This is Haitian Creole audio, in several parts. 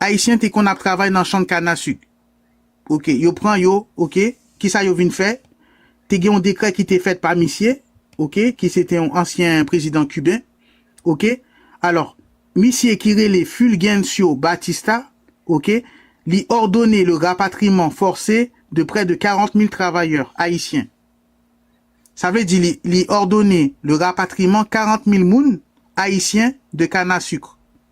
Ayisyen te konn ap travay nan chang kana suk ok yo pran yo ok kisa yo vin fè te gen yon dekrè ki te fèt pa misye ok ki se te yon ansyen prezidan kiben ok alò misye ki rele Fulgencio Batista ok li òdone le rapatriman fòse de prè de 40 mil travayè ayisyen sa vle di li li òdone le rapatriman 40 mil moun ayisyen de kana suk.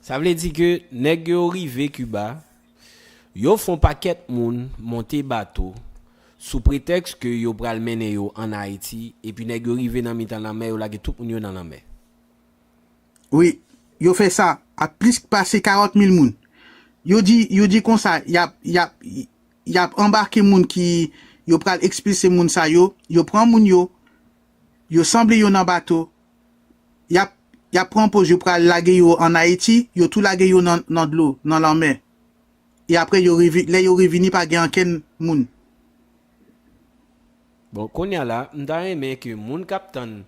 Sa vle di ke nèg yo rive Kiba, yo fon pakèt moun monte bato sou pretèks ke yo pral mennen yo an Ayiti epi nèg yo rive nan mitan lanmè yo lage tout moun yo nan lanmè. Wi, yo fè sa ak plis pase 40 mil moun. Yo di, yo di konsa y ap, y ap, y ap anbake moun ki, yo pral ekspilse moun sa yo, yo pran moun yo, yo sanble yo nan bato, yap yap pran poz yo pral lage yo an Ayiti, yo tou lage yo nan nan dlo, nan lanmè. E aprè yo revi lè yo revini pa gen ankenn moun. Bon konnya la m ta renmen ke moun kap tann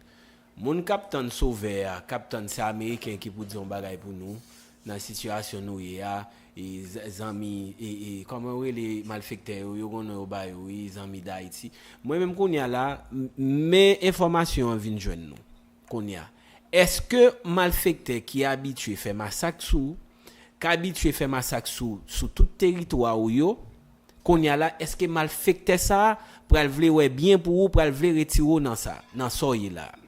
moun kap tann sovè a kap tann se ameriken ki pou di yon bagay pou nou Nan sitiyasyon nou ye a e zanmi e e kòman yo rele malfektè yo yo gon non yo ba yo wi zanmi dayiti mwen menm kounya la men enfòmasyon an vin jwenn nou kounya eske malfektè ki abitye fè masak sou k abitye fè masak sou sou tout teritwa ou yo kounya la eske malfektè sa pral vle wè byen pou ou pral vle retire w nan sa nan sa w ye la a.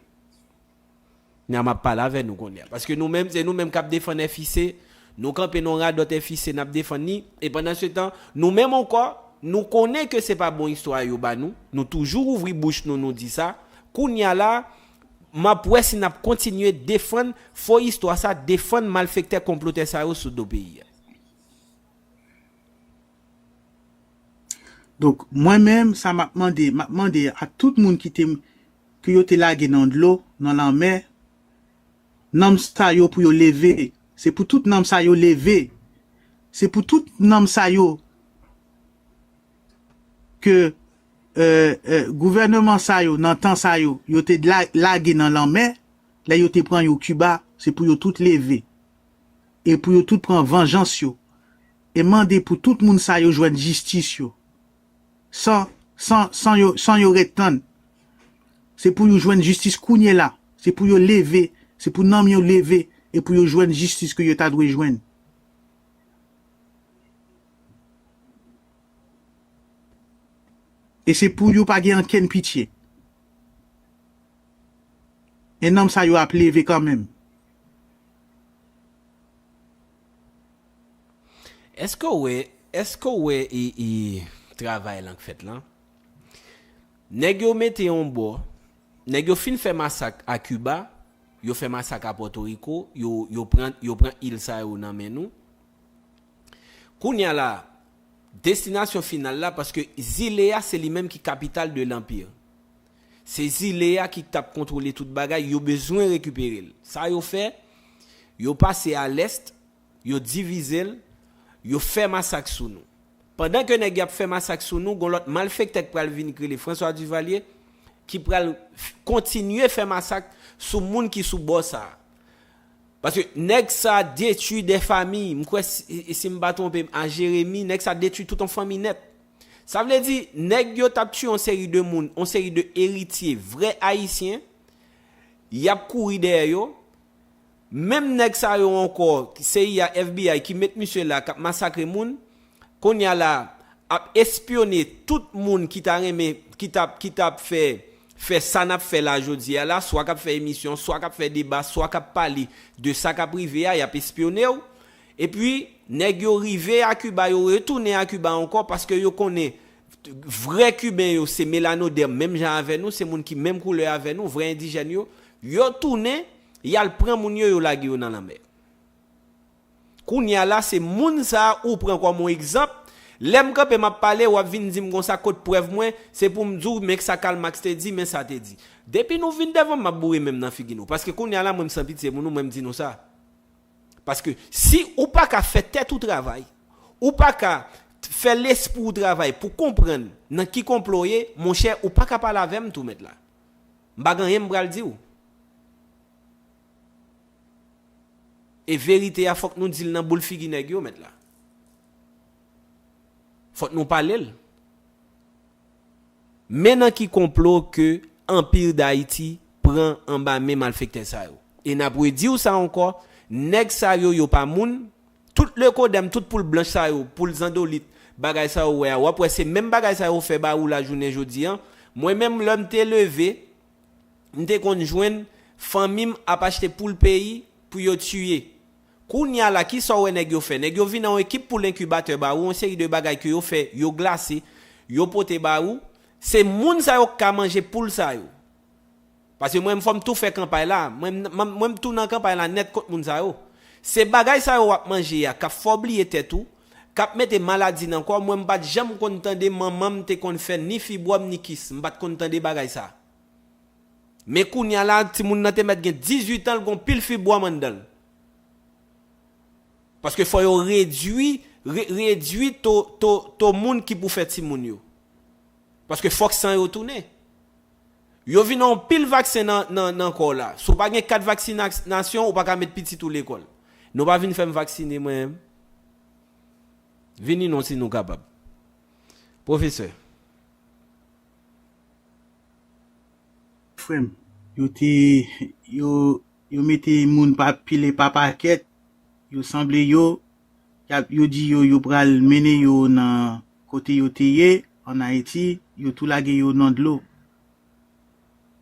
Ni a map pale avè nou kounye a. Paske nou menm se nou menm kap defann FIC, nou kanpe nan yon radòt FIC nap defann li, e pandan se tan, nou menm ankò, nou konnen ke se pa bon istwa a yo ba nou, nou toujou ouvri bouch nou nou di sa, kounye a la, map wè si nap kontinye defann fo istwa sa, defann malfektè konplotè sa yo sou do peyi a. Donk mwen menm sa map mande, map mande a tout moun ki te ke yo te lage nan dlo, nan lanmè, nanm sa yo pou yo leve, se pou tout nanm sa yo leve, se pou tout nanm sa yo ke gouvèneman sa yo nan tan sa yo, yo te lage nan lanmè, lè yo te pran yo Kiba, se pou yo tout leve, e pou yo tout pran vanjans yo. E mande pou tout moun sa yo jwenn jistis yo. San, san, san yo, san yo ret tann. Se pou you jwenn jistis kounyela. Se pou yo leve, se pou nanm yo leve e pou yo jwenn jistis ke yo ta dwe jwenn. E se pou you pa gen ankenn pitye. E nanm sa yo ap leve kanmenm. Eske w wè eske w wè e e travay lan k fèt lan? Nèg yo mete yon bò, nèg yo fin fè masak a Kiba, yo fè masak a Pòtoriko, yo yo pran yo pran il sa yo nan men nou. Kounye a la, destinasyon final la paske zile a se li menm ki kapital de lanpir. Se zile a ki tap kontwole tout bagay, yo bezwen rekipere l. Sa yo fè, yo pase a lèst, yo divize l, yo fè masak sou nou. Pandan ke nèg y ap fè masak sou nou, gon lòt malfèktè k pral vini k rele François Duvalier ki pral kontinye fè masak sou moun ki sou bò sa a. Paske nèg sa detwi 2 famiy, m kwè si m pa twonpe m a Jeremi, nèg sa detwi tout on fanmi nèt. Sa vle di, nèg yo t ap tiye yon seri de moun, yon seri de eritye vrè Ayisyen, y ap kouri dèyè yo, menm nèg sa yo ankò, cia, FBI, ki met misye la, k ap masakre moun, kounye a la, ap espyone tout moun ki ta renmen, ki t ap, ki t ap fè, fè sa n ap fè la jodi a la, swa k ap fè emisyon, swa k ap fè deba, swa k ap pale de sa k ap rive a, y ap espyone ou, Epi, nèg yo rive a Kiba, yo retounen a Kiba ankò paske yo konnen vrè Kiben yo se melanodèm menm jan avè nou, se moun ki menm koulè avè nou, vrè endijèn yo. Yo tounen, y al pran moun yo, yo lage yo nan lanmè. Kounye a la, se moun sa a ou pran kòm yon egzanp. Lè m kanpe m ap pale, w ap vin di m konsa kot prèv mwen, se pou m di w men sa Karl Marx te di, men sa te di. Depi nou vin devan m, m ap boure men m nan figi nou. Paske kounye a la, mwen m san pitye pou nou, mwen m di nou sa. Paske si ou pa ka fè tèt ou travay, ou pa ka fè lespri w travay pou konprann nan ki konplo w ye, monchè, ou pa ka pale avè m tou mèt la. M pa gen anyen m pral di w. E verite a fòk nou di l nan boul figi nèg yo mèt la. Fòk nou pale l. Men nan ki konplo ke Anpir Dayiti pran anba men malfektè sa yo. E n ap redi w sa ankò, nèg sa yo, yo pa moun, tout lekodèm, tout poul blanch sa yo, poul zandolit, bagay sa yo wè a, w ap wè se menm bagay sa yo fè ba ou la jounen jodi an. Mwen menm lè m te leve, m te konn jwenn fanmi m ap achte poul peyi pou yo tiye. Kounya la kisa w wè nèg yo fè? Nèg yo vin nan yon ekip pou lenkibatè ba ou yon seri de bagay ke yo fè, yo glase, yo pote ba ou. Se moun sa yo k ka manje poul sa yo. Paske mwen menm fò m tou fè kanpay la, mwen menm mwen tou nan kanpay la nèt kont moun sa yo. Se bagay sa yo w ap manje a k ap fè w bliye tèt ou, k ap mete maladi nan kò w. Mwen m pa t janm konn tande manman m te konn fè ni fibwòm ni kis. M pa t konn tande bagay sa. Men kounya la timoun nan te mèt gen 18 an l gon pil fibwòm anndan l. Paske fò yo redwi redwi to to to moun ki pou fè timoun yo. Paske fòk san yo tounen. Yo vin an pil vaksen nan nan nan kò w la. Si w pa gen kat vaksinasyon ou pa ka met pitit ou lekòl. Nou pa vin fè m vaksine mwen menm. Vini non si nou kapab. Pwofesè. Frem. Yo te yo yo mete moun pa pile pa paket yo sanble yo yap yo di yo yo pral mennen yo nan kote yo te ye an ayiti yo tou lage yo nan dlo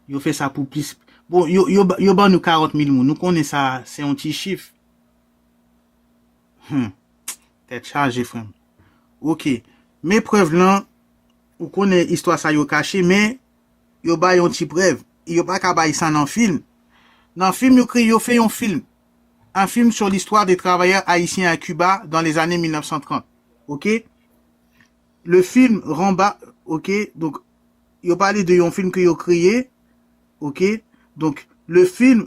yo fè sa pou plis bon yo yo yo ban nou 40 mil moun nou konnen sa se yon ti chif humm tèt chaje frèm ok men prèv lan Ou konnen istwa sa yo kache men yo bay yon ti prèv e yo pa ka bay sa nan film. Nan film yo kreye yo fè yon film. Un film sur l'histoire des travailleurs haïtiens à Cuba dans les années 1930. Ok. Le film Ramba ok donk yo pale de yon film ke yo kreye ok donk le film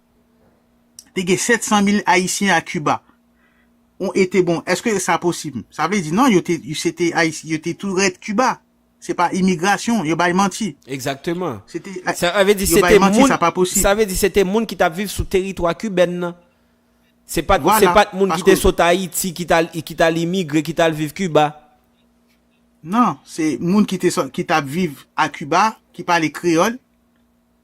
te gen 700 mil ayisyen a Kiba on ete bon eske sa posib sa vle di non yo te se te ayisyen yo te tou ret Kiba se pa imigrasyon yo bay manti Egzakteman. se te Sa vle di yo se bay te manti moun sa pa posib sa vle di se te moun ki t ap viv sou teritwa kibèn nan se pa t se vwala pa t moun ki te paske sot Ayiti ki t al ki t al imigre ki t al viv Kiba. nan se moun ki te sot ki t ap viv a Kiba ki pale kreyòl.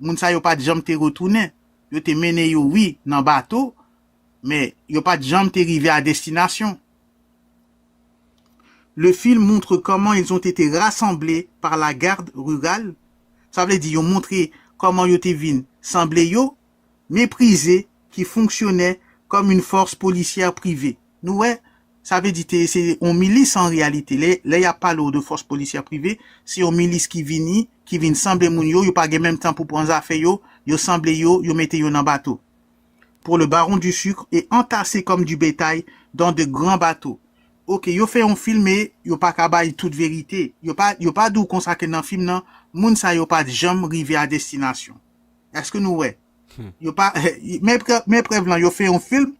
moun sa yo pat janm te retounen, yo te mennen yo wi nan bato, men yo pat janm te rive a destinasyon. Le film montre comment ils ont été rassemblés par la garde rurale, sa vle di yo montre kòman yo te vin sanble yo meprize, ki fonksyonè kòm yn fòs polisyè prive. Nou wè, sa vle di te se yon milis an reyalite. Lè, lè y ap pale w de fòs polisyè prive, se yon milis ki vini, ki vin sanble moun yo, yo pa gen menm tan pou pran zafè yo, yo sanble yo, yo mete yo nan bato. Pour le baron du sucre et entassé comme du bétail dans de grands bateaux. Ok, yo fè yon film e yo pa ka bay tout verite. Yo pa, yo pa di w konsa ke nan film nan, moun sa yo pa t janm rive a destinasyon. Eske nou wè? Yo pa men prèv lan yo fè yon film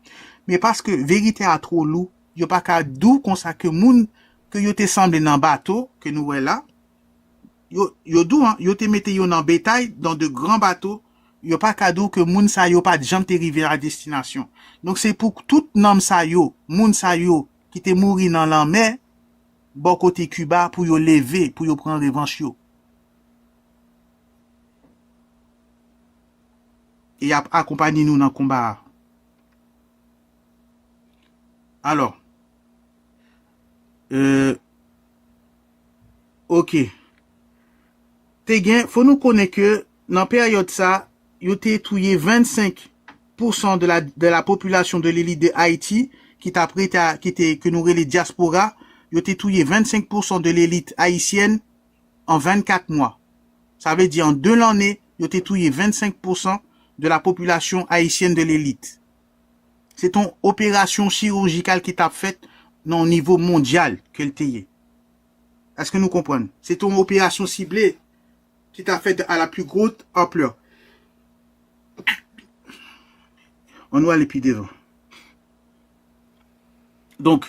men paske verite a two lou yo pa ka dou konsa ke moun ke yo te sanble nan bato ke nou wè la yo dou an yo te mete yo nan betay dan de gran bato yo pa ka dou ke moun sa yo pat janm te rive a destinasyon donk se pou tout nanm sa yo moun sa yo ki te mouri nan lanmè bò kote Cuba pou yo leve pou yo pran revanch yo. E y ap akonpanye nou nan konba a. Alò, e, oke, te gen, fò nou konnen ke nan peryòd sa, yo te touye 25 pousan de la popilasyon de Lili de Ayiti ki t ap rete a, ki te, ke nou rele dyaspora, yo te touye 25 pousan de lelit ayisyèn, an 24 mwa. Sa vle di an 2 lanne yo te touye 25 pousan de la popilasyon ayisyèn de lelit. Se t on operasyon chirujikal ki tap fèt nan on nivo mondyal ke l te ye. Eske nou konprann? Se t on operasyon sible ki tap fèt a la pli grot anplè. An nou ale pi devan. Donk.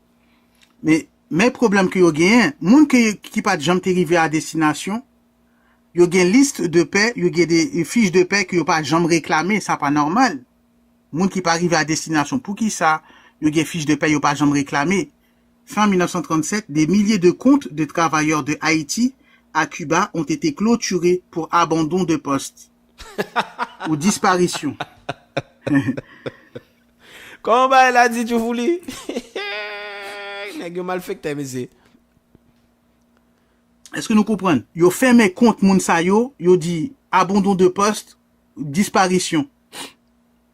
Men pwoblèm ke yo genyen, moun ki pat janm te rive a destinasyon, yo gen liste de paie, yo gen de fiche de paie ke yo pa janm reklame, sa pa nòmal. Moun ki pa rive a destinasyon, poukisa yo gen fiche de paie yo pa janm reklame? Fin 1937, des milliers de comptes de travailleurs de Haïti à Cuba ont été clôturés pour abandon de poste ou disparition. Koman bagay la di tjou fouli. Nèg yo malfektè mesye. Eske nou konprann? Yo fèmen kont moun sa yo, yo di abandon de poste, disparition.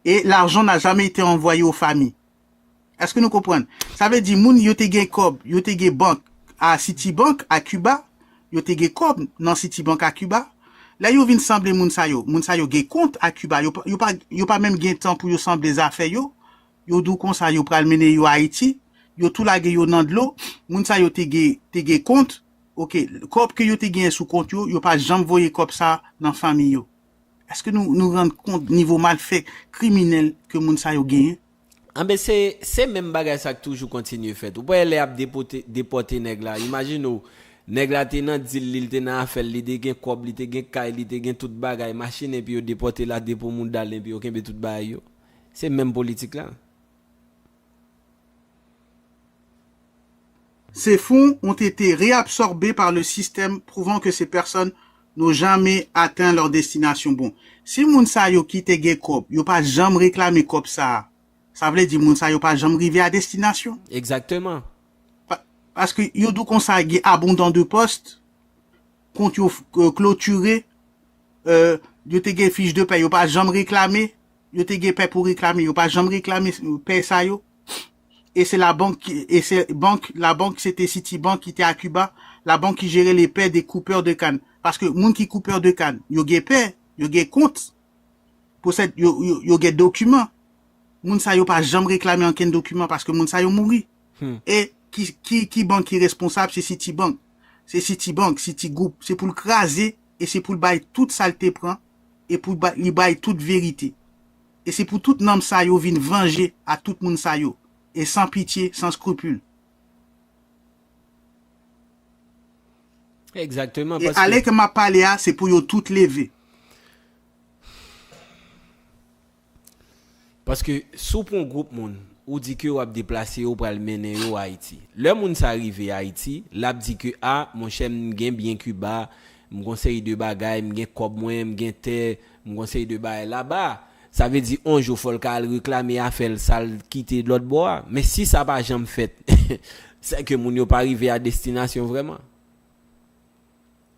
E l'argent n'a jamais été envoyé aux familles. Eske nou konprann? Sa vle di moun yo te gen kòb, yo te gen bank a Citibank, a Cuba, yo te gen kòb nan Citibank a Kiba, lè yo vin sanble moun sa yo, moun sa yo gen kont a Kiba, yo pa menm gen tan pou yo sanble zafè yo, yo di w konsa yo pral mennen yo Ayiti, yo tou lage yo nan dlo, moun sa yo te gen kont, ok, kòb ke yo te genyen sou kont yo, yo pa janm voye kòb sa nan fanmi yo. Eske nou rann kont nivo malfè kriminèl ke moun sa yo genyen? Anben se se menm bagay sa k toujou kontinye fèt. Ou pa wè lè y ap depote depòte nèg la, imajine w nèg la te nan dil li, li te nan afè l, li te gen kòb, li te gen kay, li te gen tout bagay, machin enpi yo depòte l a de pou mouda l enpi yo kenbe tout bagay yo. Se menm politik la. Ces fonds ont été réabsorbés par le système prouvant que ces personnes n'ont jamais atteint leur destination bon si moun sa yo kite gen kòb yo pa janm reklame kòb sa a sa vle di moun sa yo pa janm rive a destination? Exactement. Paske yo di w konsa gen abondant de post, kont yo klotire, yo te gen fich de pè yo pa janm reklame, yo te gen pè pou reklame yo pa janm reklame pè sa yo. e se labank e se bank labank se te Citibank ki te a Kiba, labank ki jere le pè de koupè de kann paske moun ki koupè de kann yo gen pè, yo gen kont posèd yo yo gen dokiman moun sa yo pa janm reklame ankenn dokiman paske moun sa yo mouri e ki ki ki bank ki responsab se Citibank se Citibank Citigroup se pou l kraze e se pou l bay tout sa l te pran e pou li bay tout verite. e se pou tout nanm sa yo vin vanje a tout moun sa yo, e san pitye, san skrupul. Exactement, E paske. alè ke m ap pale a, se pou yo tout leve. Paske, si w pran gwoup moun, ou di ke w ap deplase yo, ou pral mennen yo Ayiti. Lè moun sa rive Ayiti, l ap di ke, a, monchè, m gen byen Kiba, m gen yon seri de bagay, m gen kòb mwen, m gen tè, M konsey 2 bagay la ba. Sa vle di on jou fol ka al reklame afel sal t kite lot bo a. Men si sa pa janm fet se ke moun yo pa rive a destinasyon vreman.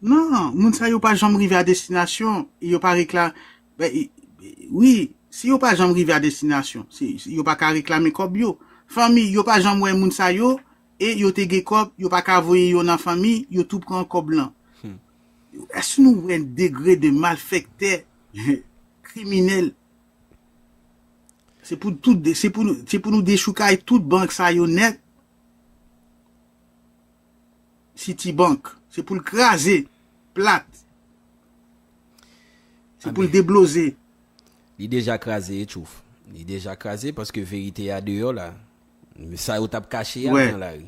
Non, moun sa yo pa janm rive a destinasyon e yo pa rekla wi, si yo pa janm rive a destinasyon, yo pa ka reklame kob yo. Fanmi yo pa janm we moun sa yo e yo te gen kob, yo pa ka voye yo nan fanmi, yo tou pran kob lan. Èske nou wè degre de malfèktè, kriminèl? Se pou tout, se pou nou, se pou nou dechoukay tout bank sa yo nèt. Citibank, se pou l kraze, plat. Se pou l debloze. Li deja kraze etchouf. Li deja kraze paske verite a deyò la. Sa yo t ap kache a nan lari.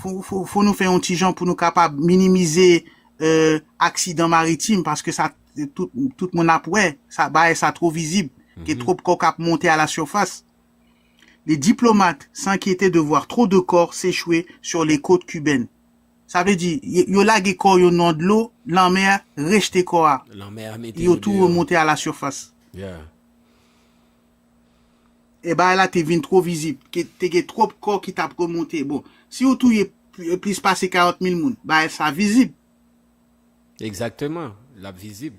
Fo nou fè yon ti jan pou nou kapab minimize aksidan maritim paske sa tout moun ap wè sa bagay sa two vizib gen twop kò kap monte a la surface les diplomates s'enkyete de voir trop de corps s'echwe sur les cotes cubaines sa vle di yo lage kò yo nan dlo lanmè rejte kò a yo tou remonte a la surface. E bagay la te vin two vizib, te gen twop kò ki tap remonte. Bon, si ou touye plis pase 40 mil moun, bagay sa vizib. Egzakteman, lap vizib.